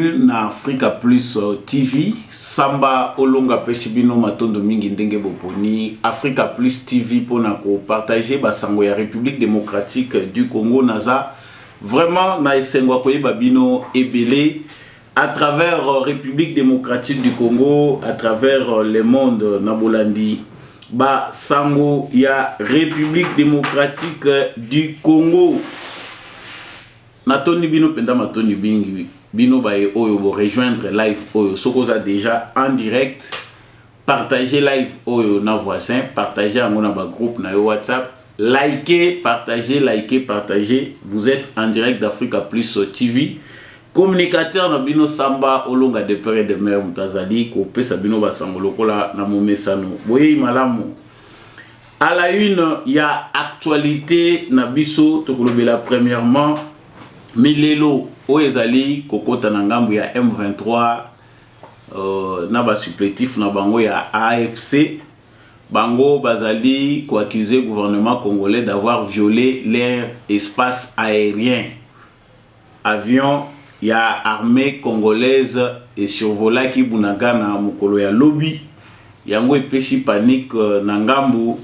na africa plus euh, tv samba olonga apesi bino matondo mingi ndenge boponi africa plus tv mpona kopartage basango ya république démocratique du congo naza vraiment na esengo ya koyeba bino ebele à travers euh, république démocratique du congo à travers euh, le monde na bolandi basango ya république démocratique du congo natondi bino mpenza matondi mingi bino baye oyo borejoindre live oyo soki oza déjà en direct partage live oyo na voisin partage yango na bagroupe na yo whatsapp likez partage likez partage vous êtes en direct d'africa plus tv communicateur na bino samba olonga de pere de mer moto azali kopesa bino basango lokola na momesano boyei malamu À la une, il y a actualité na biso tokolobela premièrement milelo oyo ezali kokota na ngambo ya M23 euh, na ba supplétif na bango ya AFC bango bazali koaccuse gouvernement congolais d'avoir violé leur espace aérien Avion ya armee congolaise e survolaki Bunagana mokolo ya lobi, yango epesi panique na ngambu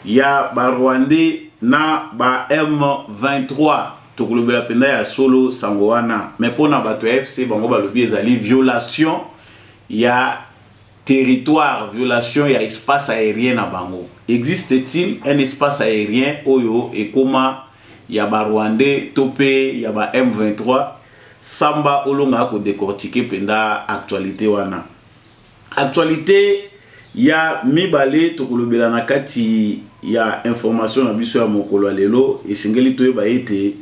ya ba rwandais na ba M23. Tokolobela mpenza ya solo sango wana, mais mpo na bato ya fc bango balobi ezali violation ya territoire violation ya espace aérien na bango existe-t-il un espace aérien oyo ekoma ya ba rwandais to pe ya ba M23 samba olonga ko décortiquer penda actualité wana actualité ya mibale tokolobela na kati ya information na biso ya mokolo ya lelo esengeli toyeba ete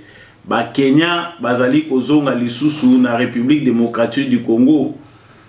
bakenya bazali kozonga lisusu na république démocratique du congo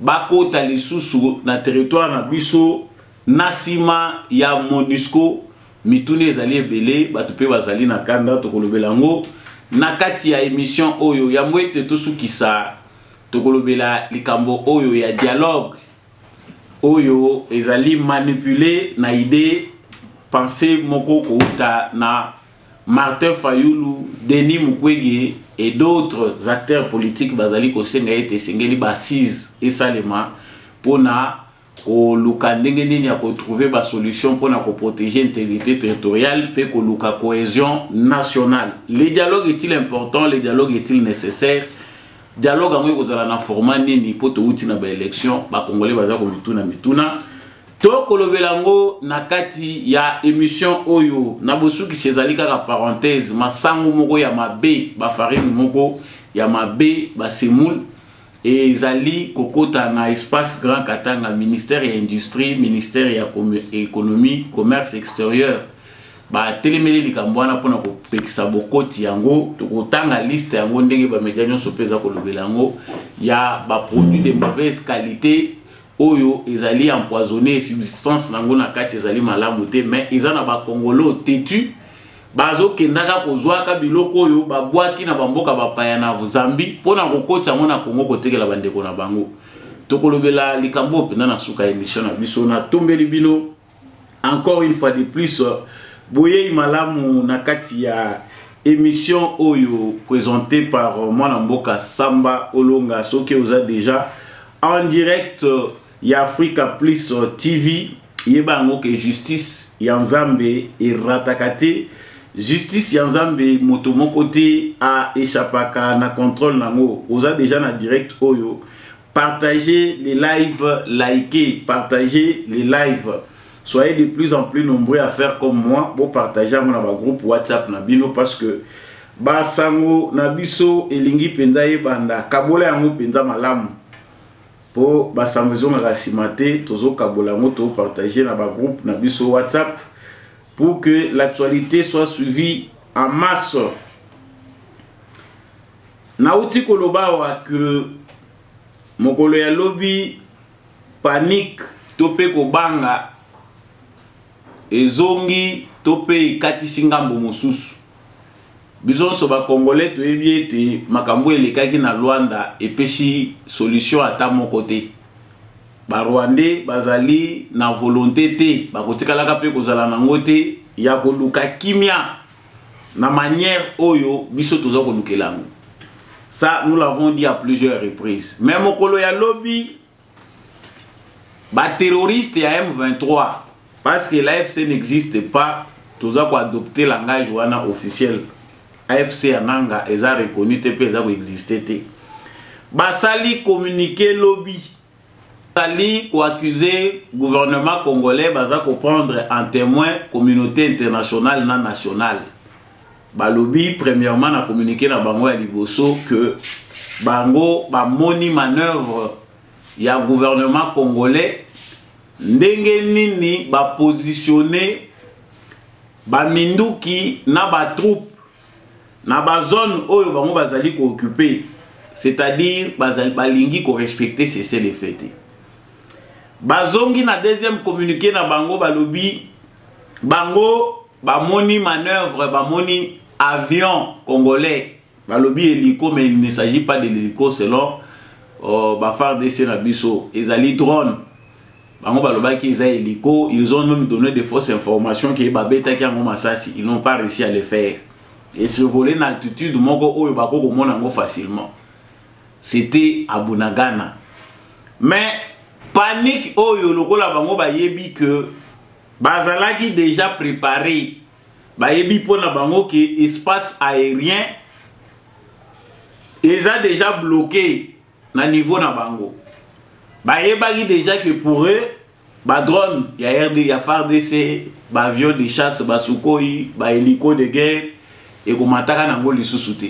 bakota lisusu na territoire na biso na nsima ya monusco mituna ezali ebele bato mpe bazali na kanda tokolobela yango na kati ya emission oyo yambo ete tosukisa tokolobela likambo oyo ya dialogue oyo ezali manipule na idee pense moko kouta na Martin Fayulu, Denis Mukwege et d'autres acteurs politiques bazali kosenga ete esengeli ba assise esalema mpona koluka ndenge nini ya kotrouve basolution mpona koprotege intégrité territoriale mpe koluka cohésion nationale le dialogue est-il important le dialogue est-il nécessaire dialogue yango ekozala na format nini mpo touti na baélection bakongole baza komituna mituna tokolobela yango na kati ya emission oyo na bosukisi ezali kaka parenthèse masango moko ya mabe bafarine moko ya mabe basemoule ezali kokota na espace grand katanga ministère ya industrie ministère ya économie commerce extérieur batelemeli likambo wana mpona kopekisa bokoti yango tokotanga liste yango ndenge bamedia nyonso mpe eza kolobela yango ya baproduit de mauvaise qualité oyo ezali empoisonné substance nango na kati ezali malamu te mais eza na bakongolo tetu bazokendaka kozwaka biloko oyo babwaki na bamboka bapaya na zambie mpo na kokotisa yango na kongo kotekela bandeko na bango tokolobela likambo oyo mpenza na suka ya emission na biso natombeli bino encore une fois de plus boyei malamu na kati ya émission oyo présentée par mwana mboka samba olonga soki oza déjà en direct ya africa plus tv yeba yango ke justice ya nzambe erataka te justice ya nzambe moto moko te aechapaka na contrôle na yango oza deja na direct oyo Partagez les lives, likez, partagez les lives. Soyez de plus en plus nombreux à faire comme moi. Bon, partagez mon groupe WhatsApp Nabino parce que ba sango nabiso elingi penza banda kabola yango penza malamu po ba sango ezongaka nsima te tozokabola yango topartage na bagroupe na biso whatsapp pour que l'actualité soit suivie en masse Nauti koloba awa que mokolo ya lobi panique to mpe kobanga ezongi to mpe ekatisi ngambo mosusu. Biso nyonso bakongole toyebi ete makambo elekaki na Luanda epesi solution ata moko te. Barwandais bazali na volonte te, bakotikalaka mpe kozala nango te ya koluka kimia na manière oyo biso toza kolukela yango ça nous l'avons dit à plusieurs reprises mais mokolo ya lobi baterroriste ya m23 parce que l'afc n'existe pas toza koadopte langage wana officiel afc ya nanga eza reconnu te mpe eza koexiste te basali communiqué lobi Tali ko accuser gouvernement congolais baza ko prendre en témoin communauté internationale na nationale. Balobi premièrement na communiquer na bango ya liboso que bango bamoni manœuvre ya gouvernement congolais ndenge nini bapositionne baminduki na batroupe na ba zone oyo bango bazali ko occuper c'est-à-dire bazali balingi ko respecter cessez le feu te bazongi na deuxième communiqué na bango balobi bango bamoni manœuvre bamoni avion congolais balobi hélico mais il ne s'agit pas de l'hélico selon euh, bafardc na biso ezali drone bango balobaki eza hélico ils ont même donné des fausses informations que babetaki yango masasi ils n'ont pas réussi à le faire et se voler na altitude moko oyo bako komona yango facilement c'était à bunagana mais panique oyo lokola bango bayebi que bazalaki déjà préparé bayebi mpo na bango ke espace aérien eza déjà bloqué na niveau na bango bayebaki déjà que pour eux badrone ya rd ya fardc baavion de chasse basukoi bahélico de guerre ekomataka nango lisusu te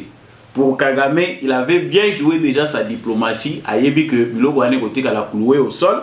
pour kagame il avait bien joué déjà sa diplomatie ayebi que biloko wana ekotikala cloue au sol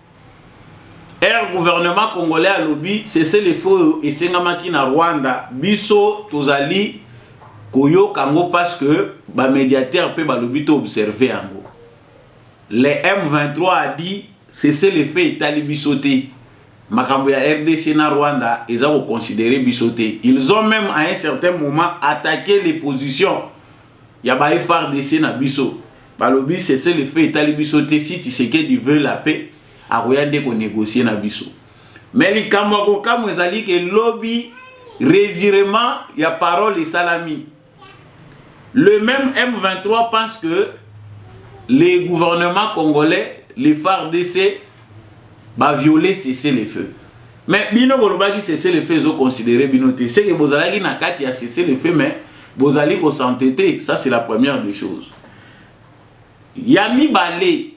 Air gouvernement congolais alobi cessez le feu oyo esengamaki na Rwanda biso tozali koyoka yango parce que ba médiateur mpe balobi to observer yango le M23 a dit cessez le feu etali biso te makambo ya RDC na Rwanda eza ko considérer biso te ils ont même à un certain moment attaqué les positions ya ba FRDC na biso balobi sese le feu etali biso te si Tshisekedi veut la paix akoya nde ko négocier na biso mais likambo ya kokamwa ezali ke lobi revirement ya parole esalami le même M23 pense que les gouvernements congolais les FARDC ba violer cesser le feu mais bino bolobaki cesser le feu ezo considérer bino te c'est que bozalaki na kati ya cesser le feu mais bozali ko s'entêter ça c'est la première des choses ya mibale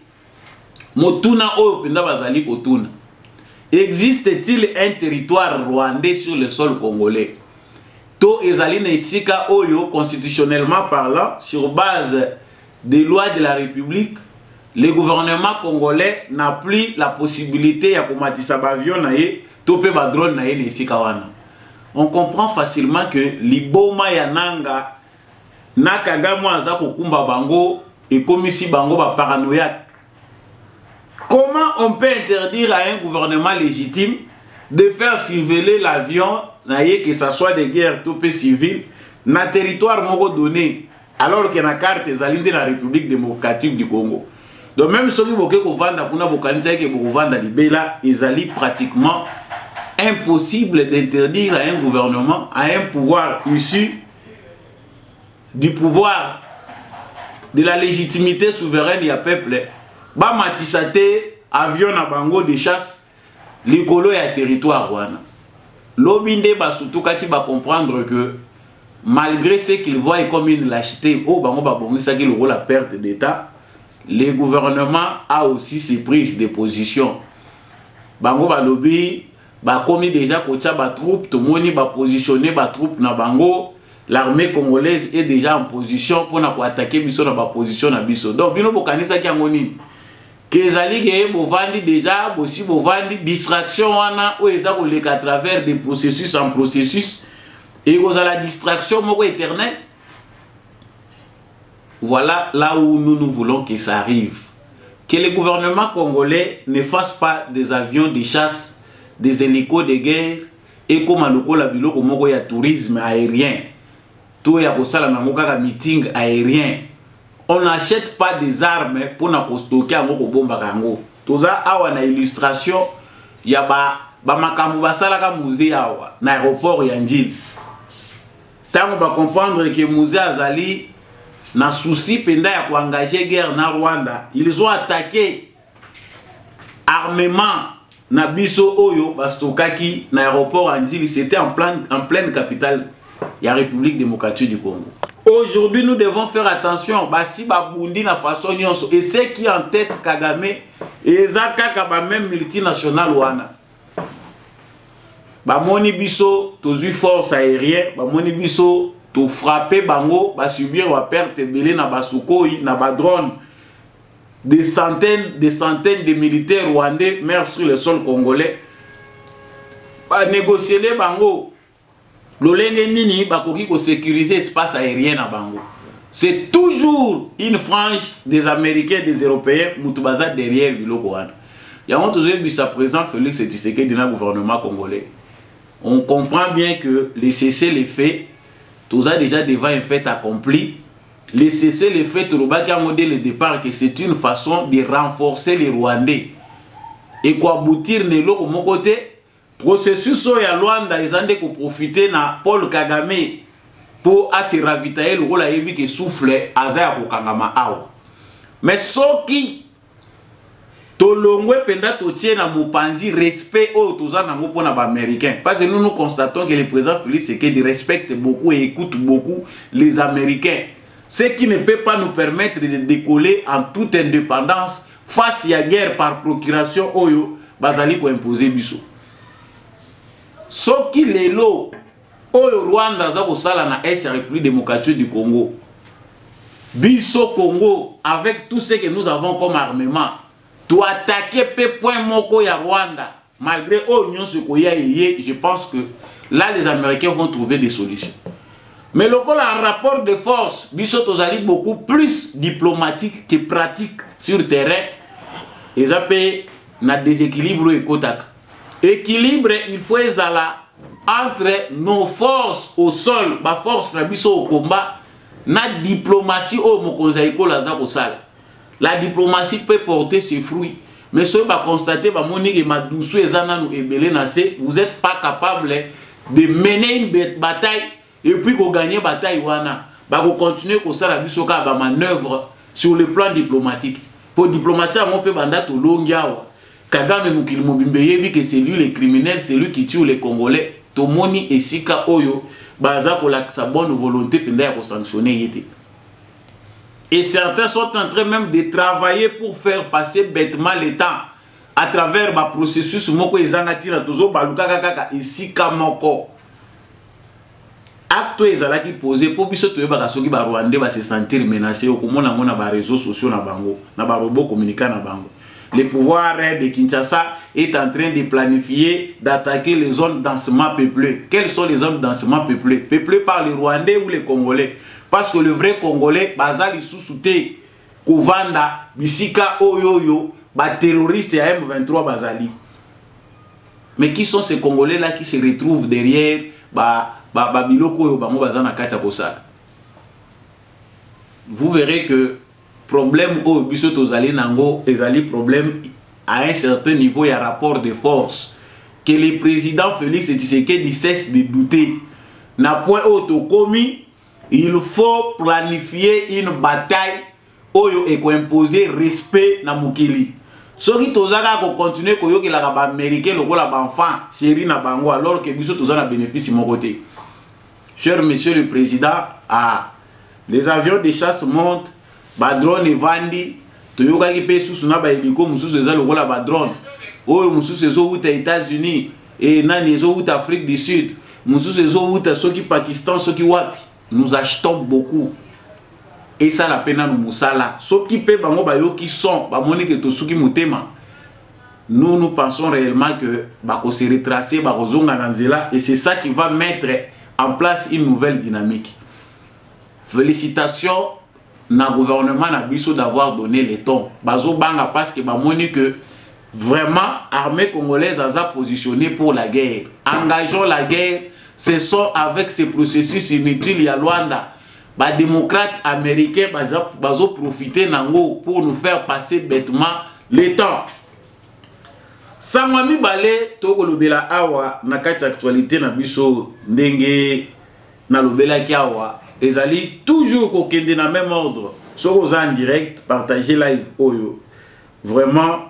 motuna oyo mpenza bazali kotuna existe-t-il un territoire rwandais sur le sol congolais to ezali na esika oyo constitutionnellement parlant sur base des lois de la République, le gouvernement congolais n'a plus la possibilité ya komatisa ba avion na ye to pe ba drone na ye na esika wana. On comprend facilement que liboma ya nanga na Kagame aza kokumba bango ekomisi bango ba paranoïaque. Comment on peut interdire à un gouvernement légitime de faire surveiller l'avion na ye que ça soit de guerre to pe civil na territoire moko donné alors que na carte ezali nde na république démocratique du congo donc même soki boke kovanda kuna bokanisaki ke bokovanda libela ezali pratiquement impossible d'interdire à un gouvernement à un pouvoir issu du pouvoir de la légitimité souveraine ya peuple bamatisa te avion na bango de chasse likolo ya territoire wana lobi nde basutukaki bacomprendre que malgré ce qu'il voit comme une lâcheté oyo oh, bango babongisaki lokola perte d'état le gouvernement a aussi ses prises de position bango balobi bakomi déjà kotya batroupe tomoni bapositionne batroupe na bango l'armée congolaise est déjà en position mpona koatake biso na baposition na biso donc bino bokanisaki yango nini que ezali ke bovandi deja bosi bovandi distraction wana oyo eza koleka à travers des processus en processus ekozala distraction moko éternel voilà là où nous nous voulons que ça arrive que le gouvernement congolais ne fasse pas des avions de chasse des hélicos de guerre ekoma lokola biloko moko ya tourisme aérien to ya kosala nango kaka meeting aérien on n'achète pas des armes mpo na kostoke yango kobombaka yango toza awa na illustration ya bamakambo ba basalaka musée awa na aéroport ya njili ntango bacomprendre ke musée azali na souci mpenza ya koengage guerre na rwanda ils ont attaqué armement na biso oyo bastokaki na aéroport ya ndjili c'était en, plan, en pleine capitale ya république démocratique du congo aujourd'hui nous devons faire attention basi babundi na façon nyonso et ce qui en tête kagame eza kaka bameme multinationale wana bamoni biso tozwi force aérien bamoni biso tofrappe bango basubir baperte ebele na basukoi na badrone des centaines, des centaines de militaires rwandais meurent sur le sol congolais. Ba négocier les bango. Lolenge nini bakoki ko sécuriser espace aérien na bango. C'est toujours une frange des Américains, des Européens, mutubaza derrière biloko wana. Yango tozoyebisa président Félix Tshisekedi na gouvernement congolais. On comprend bien que les cessez les faits, toza déjà devant un fait accompli. Le cessez le fait tolobaki yango dès le départ que c'est une façon de renforcer les Rwandais et koaboutir na eloko moko te processus oyo ya Luanda eza nde koprofite na Paul Kagame mpo ase ravitaye lokola ayebi ke souffle aza ya kokangama awa mais soki tolongwe mpenza totie na mopanzi respect oyo toza nango mpo na baaméricain parce que nous nous constatons que le président félix sekedi respecte beaucoup et écoute beaucoup les américains ce qui ne peut pas nous permettre de décoller en toute indépendance face ya guerre par procuration oyo bazali koimpose biso soki lelo oyo rwanda aza kosala na est ya république démocratique du congo biso congo avec tout ce que nous avons comme armement toatake mpe point moko ya rwanda malgré oyo nyonso ekoya eye je pense que là les américains vont trouver des solutions mais lokola rapport de force biso tozali beaucoup plus diplomatique que pratique sur terrain eza mpe na déséquilibre oyo ekotaka Equilibre il faut ezala entre nos forces au sol, ba force na biso au combat na diplomatie oyo mokonzi ya ekolo aza kosala. La diplomatie peut porter ses fruits. Mais soki ba constater ba moni ke madusu eza nanu ebele na se, vous êtes pas capable de mener une bataille et puis ko gagner bataille wana ba ko continuer ko sala biso ka ba manœuvre sur le plan diplomatique pour diplomatie yango pe banda to longi awa Kagame mokili mobimba eyebi que c'est lui le criminel, c'est lui qui tue les Congolais. Tomoni esika oyo baza kolakisa bonne volonté mpenza ya kosanctionne ye te. Et certains sont en train même de travailler pour faire passer bêtement le temps à travers ba processus moko ezanga tina tozo balukaka kaka esika moko. acte oyo ezalaki pose mpo biso toyebaka soki barwandais base sentir menace okomona yango na bareseau sociaux na bango na barobot communica na bango le pouvoir de kinshasa est en train de planifier d'attaquer les zones densement peuplées quelles sont les zones densement peuplées peuplées par les rwandais ou les congolais parce que le vrai congolais baza lisusu te kovanda bisika oyo oyo baterroriste ya m23 bazali mais qui sont ces congolais là qui se retrouvent derrière babiloko oyo bango baza na kati ya kosala vous verrez que problème oyo biso tozali nango ezali problème à un certain niveau ya rapport de force que le président félix tshisekedi cesse de douter na point oyo tokomi il faut planifier une bataille oyo ekoimpose respect na mokili soki toza kaka kocontinue koyokelaka baaméricain lokola baenfant chéri na bango alors ke biso toza na bénéfice moko te cher monsieur le président ah, les avions de chasse montent badrone evandi toyokaki mpe susu na baeliko mosusu eza lokola badrone oyo mosusu ezowuta états-unis e nani ezowuta afrique du sud mosusu ezowuta soki pakistan soki wapi nous achetons beaucoup esala mpe nano mosala soki mpe bango bayoki son bamoni ke tosuki motema nous nous pensons réellement que bakose retracer bakozonga na nzela et c'est ça qui va mettre en place une nouvelle dynamique Felicitations na gouvernement na biso d'avoir donné le temps. Bazo banga parce que bamoni que vraiment armée congolaise aza positionnée pour la guerre. Engageons la guerre, ce sont avec ces processus inutiles ya Luanda ba démocrates américains baza bazo profiter nango pour nous faire passer bêtement le temps. sango ya mibale tokolobela awa na kati ya actualité na biso ndenge nalobelaki awa ezali toujours kokende na même ordre soki oza en direct partage live oyo vraiment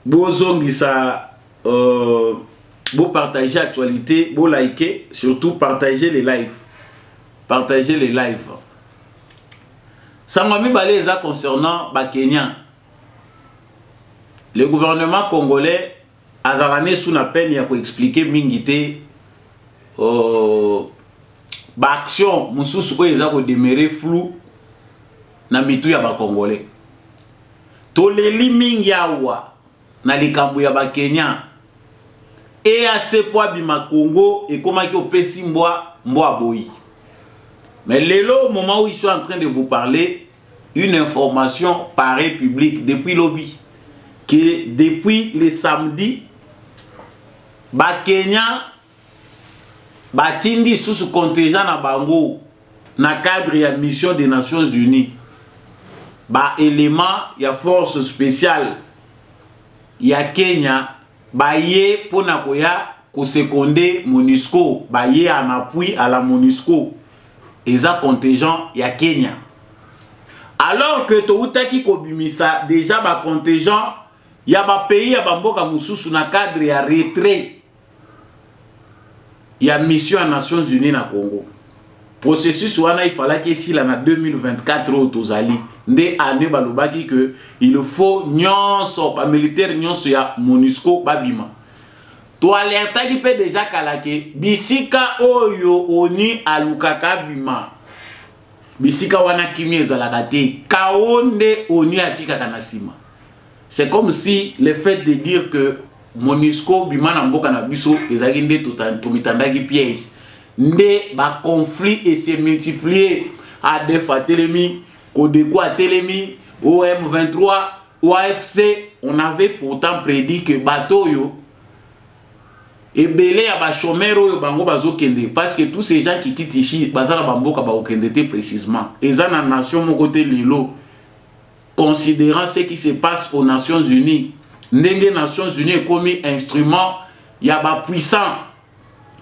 bozongisa euh, bopartage actualité bolike surtout partage les live partage les live sango mibale eza concernant bakenya le gouvernement congolais azalaka ne sous na peine ya ko expliquer mingi te oh, ba action mosusu oyo eza ko demeurer flou na mitu ya ba congolais toleli mingi awa na likambo ya ba kenyan eac mpo abima congo ekomaki opesi mbwa mbwa boyi mais lelo moment où ils sont en train de vous parler une information pareille publique depuis lobi que depuis le samedi bakenya batindi lisusu contingent na bango na cadre ya mission des nations unies baélément ya force spéciale ya kenya baye mpo na koya kosekonde monusco baye en appui à la monusco eza contingent ya kenya alors que toutaki kobimisa déjà bacontingent ya bapays ya bamboka mosusu na cadre ya retrait ya mission ya nations unis na congo processus wana ifalaki esila na 2024 oyo tozali nde année balobaki ke il faut nyonso bamilitaire nyonso ya monusco babima toalertaki mpe deja kala ke bisika oyo oni alukaka bima bisika wana kimia ezalaka te kao nde oni atikaka na nsima C'est comme si le fait de dire que Monusco bima na mboka na biso ezalaki nde tomitandaki piège nde ba conflit et se multiplier ADF atelemi Codeco atelemi OM23 OAFC on avait pourtant prédit que bateau yo ebele ya bachomere oyo bango bazokende parce que tous ces gens qui quittent ici baza na bamboka bakokende te précisement eza na nation moko te lelo considérant ce qui se passe aux Nations Unies ndenge Nations Unies ekomi instrument ya ba puissants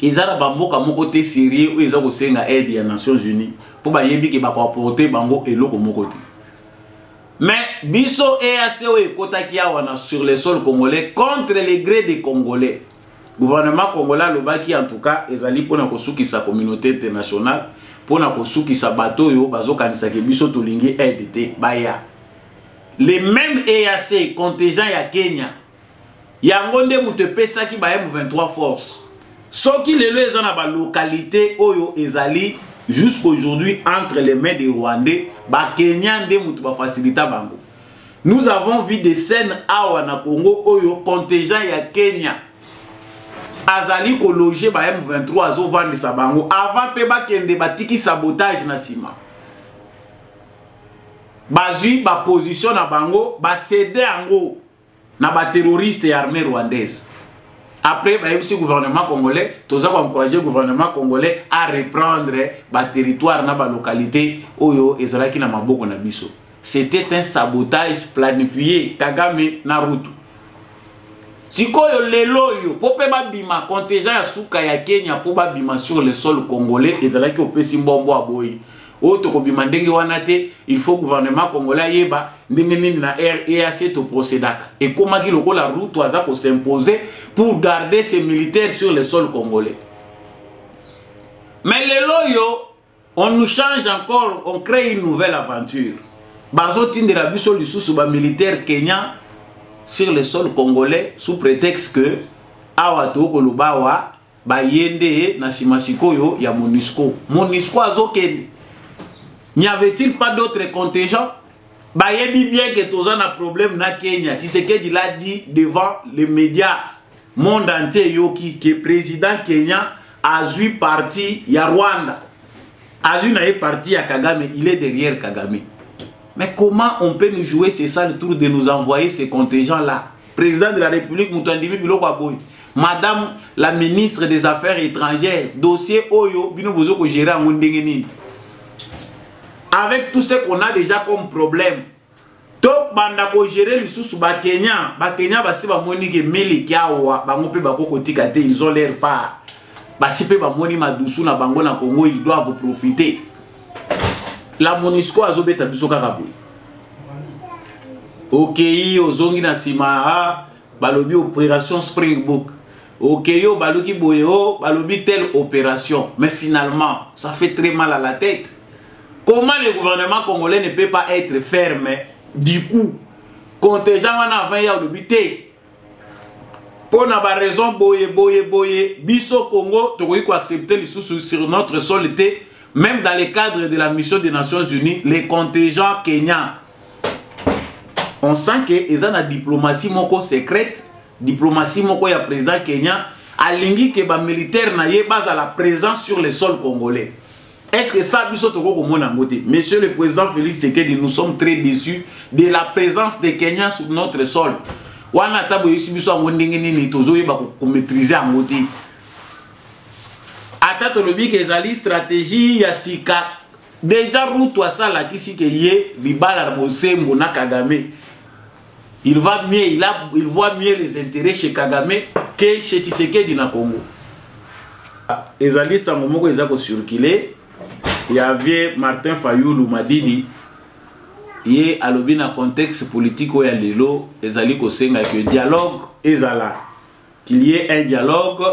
eza na bamboka moko te sérieux oyo eza kosenga aide ya Nations Unies mpo bayebi ke bakoaporte bango eloko moko te mais biso EAC oyo ekotaki awa na sur le sol congolais contre le gré des congolais Gouvernement congolais alobaki en tout cas ezali pona kosukisa communauté internationale pona kosukisa bato oyo bazokanisa ke biso tolingi aide te baya. Le même EAC contingent ya Kenya yango nde moto epesaki ba M23 force. Soki lelo eza na ba localités oyo ezali jusqu'aujourd'hui entre les mains des Rwandais, ba Kenyans nde moto ba facilita bango. Nous avons vu des scènes awa na Congo oyo contingent ya Kenya azali ko loger ba M23 azo vandisa bango avant pe bakende batiki sabotage na sima. Bazui ba position na bango ba cede yango na ba terroristes ya armée rwandaise. Après bayebisi gouvernement congolais toza ko encourager gouvernement congolais à reprendre ba territoire na ba localités oyo ezalaki na maboko na biso. C'était un sabotage planifié Kagame na Ruto. Sikoyo lelo yo po pe babima contingent ya suka ya Kenya po babima sur le sol congolais ezalaki opesi mbombo aboyi. Oyo tokobima ndenge wana te, il faut gouvernement congolais ayeba ndenge nini na REAC to procédaka. Ekomaki lokola Ruto aza ko s'imposer pour garder ses militaires sur le sol congolais. Mais lelo yo on nous change encore on crée une nouvelle aventure bazotindela biso lisusu bamilitaire kenyan sur le sol congolais sous prétexte que awa tokoloba awa baye nde na nsima sikoyo ya monisco monisco azokende n'y avait-il pas d'autres contingents bayebi bien que toza na problème na kenya tisekedi l'a dit devant les médias monde entier eyoki ke président kenyan azwi parti ya rwanda azwi na ye parti ya kagame il est derrière kagame mais comment on peut nous jouer ce sale tour de nous envoyer ces contingents là président de la république moto andimi biloko ya boye madame la ministre des affaires étrangères dossier oyo bino bozo kogere yango ndenge nini avec tout ce qu'on a déjà comme problème tobanda kogere lisusu bakenya bakenya basi bamoni ke miliki awa bango mpe bako kotika te ils ont leur part basi mpe bamoni madusu na bango na congo ils doivent profiter la monisco azobeta biso kaka boye okei ozongi na nsima ah, balobi operation springbook okeyi okay, obaluki boye o oh, balobi telle opération mais finalement ça fait très mal à la tête comment le gouvernement congolais ne peut pas être ferme du coup contingent wana avant ya olobi te mpo na baraison boye boye boye biso congo tokoki koaccepte lisusu sur notre sol te même dans le cadre de la mission des nations unies les contingents kenyans on sent que eza na diplomatie moko secrète Diplomatie moko ya président Kenya alingi que ba militaires na ye bazala présent sur le sol congolais. Est-ce que ça biso toko komona yango te? Monsieur le président Félix Tshisekedi, nous sommes très déçus de la présence des Kenyans sur notre sol. Wana ata boyebisi biso yango ndenge nini tozoyeba ko maîtriser yango te. Ata tolobi ke ezali stratégie ya sika deja Ruto asalakisi ke ye libala na bosembo na Kagame il va mieux il, a, il voit mieux les intérêts chez kagame que chez tisekedi na congo ah, ezali sango moko eza kocircule ya vie martin fayulu madidi ye alobi na contexte politique oyo ya lelo ezali kosenga ke dialogue ezala qu'il y ait un dialogue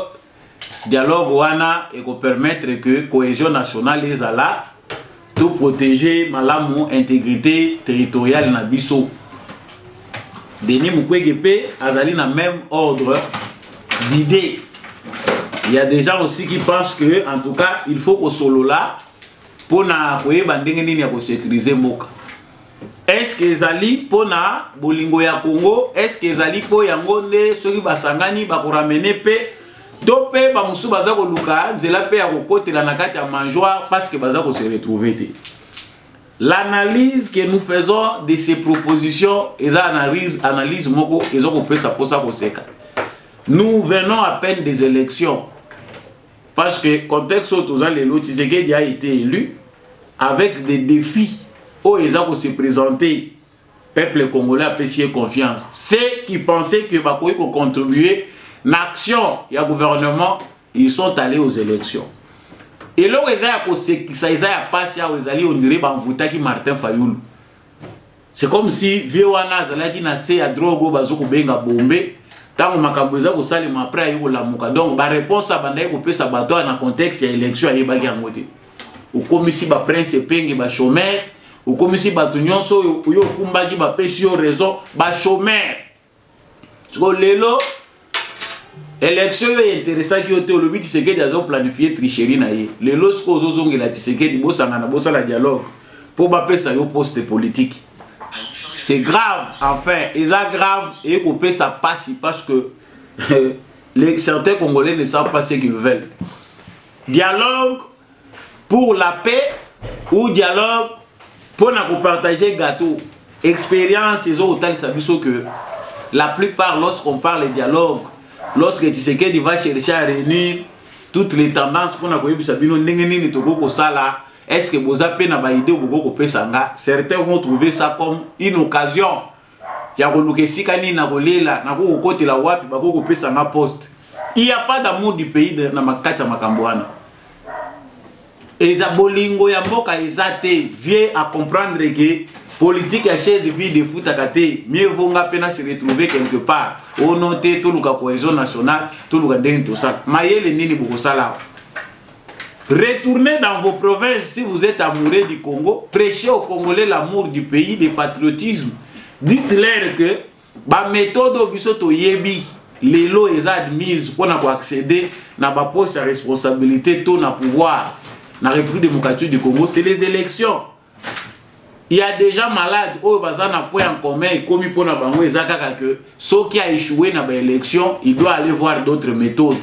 dialogue wana ekopermettre que cohésion nationale ezala to protéger malamu intégrité territoriale na biso denis mukwege mpe azali na même ordre d'idée il y a des gens aussi qui pensent que en tout cas il faut kosolola mpo na koyeba ndenge nini ya kosécurise mboka est-ce que ezali mpo na bolingo ya congo est-ce que ezali mpo yango nde soki basangani bakoramene mpe to mpe bamosusu baza koluka nzela mpe ya kokotela na kati ya mangeoire parce que baza kose retrouve te l'analyse que nous faisons de ces propositions eza analyse, analyse moko eza kopesa mposa koseka nous venons à peine des élections Parce que contexte oyo toza lelo Tshisekedi a été élu avec des défis oyo eza ko se présenter peuple congolais apesi ye confiance ceux qui pensaient que bakoki kocontribue na action ya gouvernement ils sont allés aux élections eloko eza ya kosekisa eza ya mpasi awa ezali ondire bamvutaki martin fayulu c'est comme si vieux wana azalaki na se ya drogue oyo bazokobenga bombe ntango makambo eza kosalema après aye kolamuka donc bareponse abandaki kopesa bato wana na contexte ya élection ayebaki yango te okomisi baprince epenge bachomere okomisi bato nyonso oyo okumbaki bapesi yo raison bachomere sikoyo lelo election oyo interesaki yo te olobi tisekedi azoplanifie tricherie na ye lelo sikoyo ozozongela tisekedi bosangana bosala dialogue mpo bapesa yo poste politique c'est grave enfin eza grave eye kopesa mpasi parce que les certains congolais ne savent pas ce qu'ils veulent dialogue pour la paix ou dialogue mpo na kopartage gâteau expérience ezokotalisa biso que la plupart lorsqu'on parle dialogue lorsque tshisekedi va chercher à réunir toutes les tendances mpona koyebisa bino ndenge nini tokoki kosala est ce que boza mpe na baide bokoki kopesa nga certains vont trouver ça comme une occasion ya koluka esika nini na kolela nakoki kokotela wapi bakoki kopesa nga poste il y a pas d'amour du pays na makati ya makambo wana eza bolingo ya mboka eza te vieux a comprendre ke politique ya chaise vide efutaka te mieux vaut nga mpe na se retrouver quelque part ono te toluka cohésion nationale toluka ndenge tosala mayele nini bokosala awa Retournez dans vos provinces si vous êtes amoureux du Congo. Prêchez aux Congolais l'amour du pays, le patriotisme. Dites-leur que ba méthode au biso to yebi lelo eza admise pour na accéder na ba poste à responsabilité to na pouvoir na République démocratique du Congo, c'est les élections. ya deja malade oyo baza na point en commun ekomi mpo na bango eza kaka ke soki aechoue na baélection il doit aller voir d'autres méthodes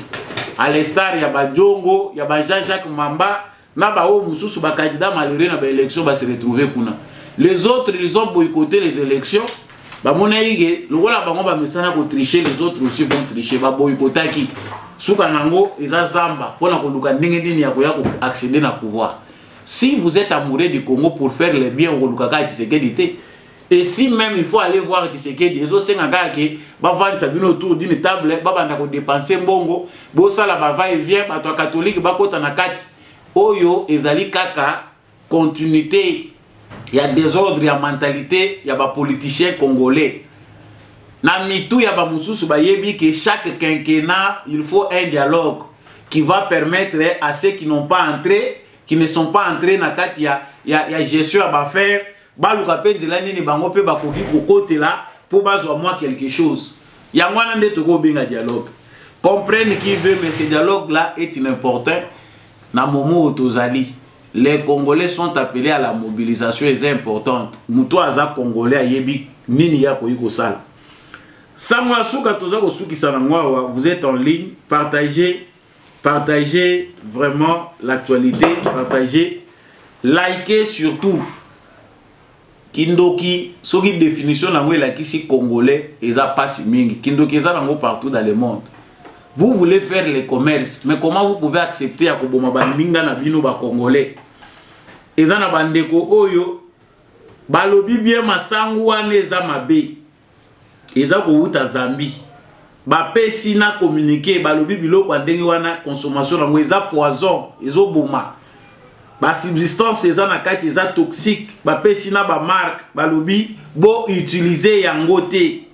à l'instar ya bajongo ya ba jean jacques mamba na baoyo mosusu bacandidat malheureux na baélection base retrouve kuna les autres ils ont boycoté les élections bamonaki ke lokola bango bamesana kotriche les autres aussi vont triche baboyikotaki suka na yango eza zamba mpo na koluka ndenge nini ya koya koaccéder na pouvoir Si vous êtes amoureux du Congo pour faire le bien, vous kaka Tshisekedi te. Et si même il faut aller voir Tshisekedi, ezo senga kaka ke ba vendre sa bino autour d'une table, ba banda ko dépenser mbongo, bo sala ba va et vient, ba to catholique ba kota na kati. Oyo ezali kaka continuité ya désordre ya mentalité ya ba politiciens congolais. na mitu ya bamosusu bayebi que chaque quinquennat il faut un dialogue qui va permettre à ceux qui n'ont pas entré qui ne sont pas entrés na kati ya, ya, ya gestion ya bafaire baluka mpe nzela nini bango mpe bakoki kokotela mpo bazwa mwa quelque chose yango wana nde tokoki kobenga dialogue comprenne qui veut mais ce dialogue là est inimportant na momo oyo tozali les congolais sont appelés à la mobilisation eza importante moto aza congolais ayebi nini ye akoki kosala sango ya suka toza kosukisa na ngo awa vous êtes en ligne partagez partagez vraiment l'actualité partagez likez surtout kindoki soki définition nango elakisi congolais eza pasi mingi kindoki eza nango partout dans le monde vous voulez faire le commerce mais comment vous pouvez accepter ya koboma baninga na bino bacongolais eza na bandeko oyo balobi bien masangu wana eza mabe eza kowuta zambie bapesi na communiqué balobi biloko ya ndenge wana consommation yango eza poison ezoboma basubstance eza na kati eza toxique bapesi na bamarke balobi boutilize yango te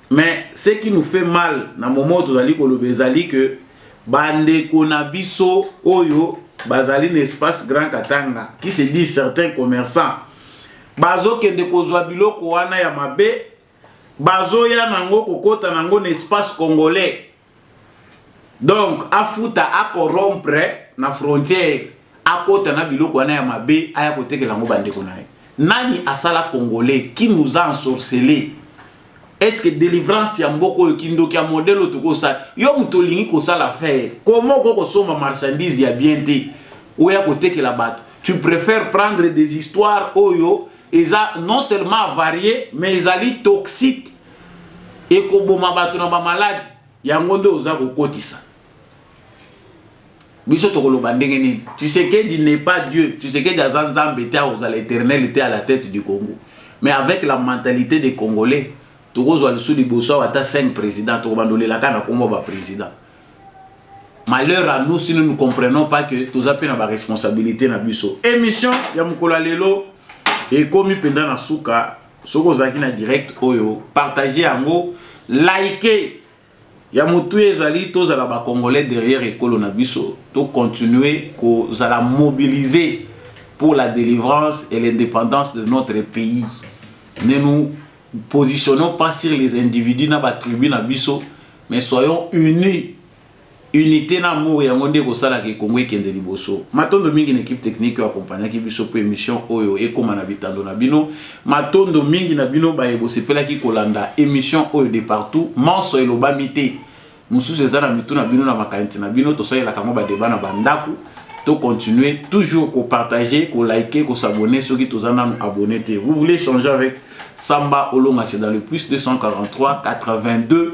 mais ce qui nous fait mal na moment oyo tozali koloba ezali ke bandeko na biso oyo bazali na espace grand katanga qui se dit certains commerçants bazokende kozwa biloko wana ya mabe bazoya nango kokota nango na espace congolais donc afuta akorompre na frontiere akota na biloko wana ya mabe aya kotekela yango bandeko na ye nani asala congolais qui nous a ensorcele est ce que délivrance ya mboka oyo kindoki ya modèle oyo tokoki kosala yo moto olingi kosala affaire koma okoki kosomba marchandise ya bien te oya kotekela bato tu préfère prendre des histoires oyo eza non seulement avarie mais ezali toxique ekoboma bato na bamaladi yango nde oza kokotisa biso tokoloba ndenge nini tshisekedi n'est pas dieu tshisekedi aza nzambe te akozala éternel te à la tête du congo mais avec la mentalité des congolais tokozwa lisusu liboso awa ata 5 président tokobanda olelaka na nkombo ya baprésident malheur à nous si nous ne comprenons pas que toza mpe na baresponsabilité na biso émission ya mokolo ya lelo ekomi mpenza na suka soki ozalaki na direct oyo partage yango like ya motuya ezali tozala bacongolais derrière ekolo na biso tocontinue kozala mobilise pour la délivrance et l'indépendance de notre pays ne nous positionnons pas sur les individus na batribu na biso mais soyons unis unité na amour yango nde ekosala ke kongo ekende liboso matondo mingi na équipe technique oyo akompagnaki biso mpo émission oyo ekóma na bitando na bino matondo mingi na bino baye bosepelaki kolanda émission oyo de partout manso elobami te mosusu eza na mitu na bino na makanisi na bino tosalelaka yango badeba na bandako to continuer toujours kopartage kolike kosabone soki toza nanu abonne te vous voulez changer avec samba olonga c'est dans le plus 243 82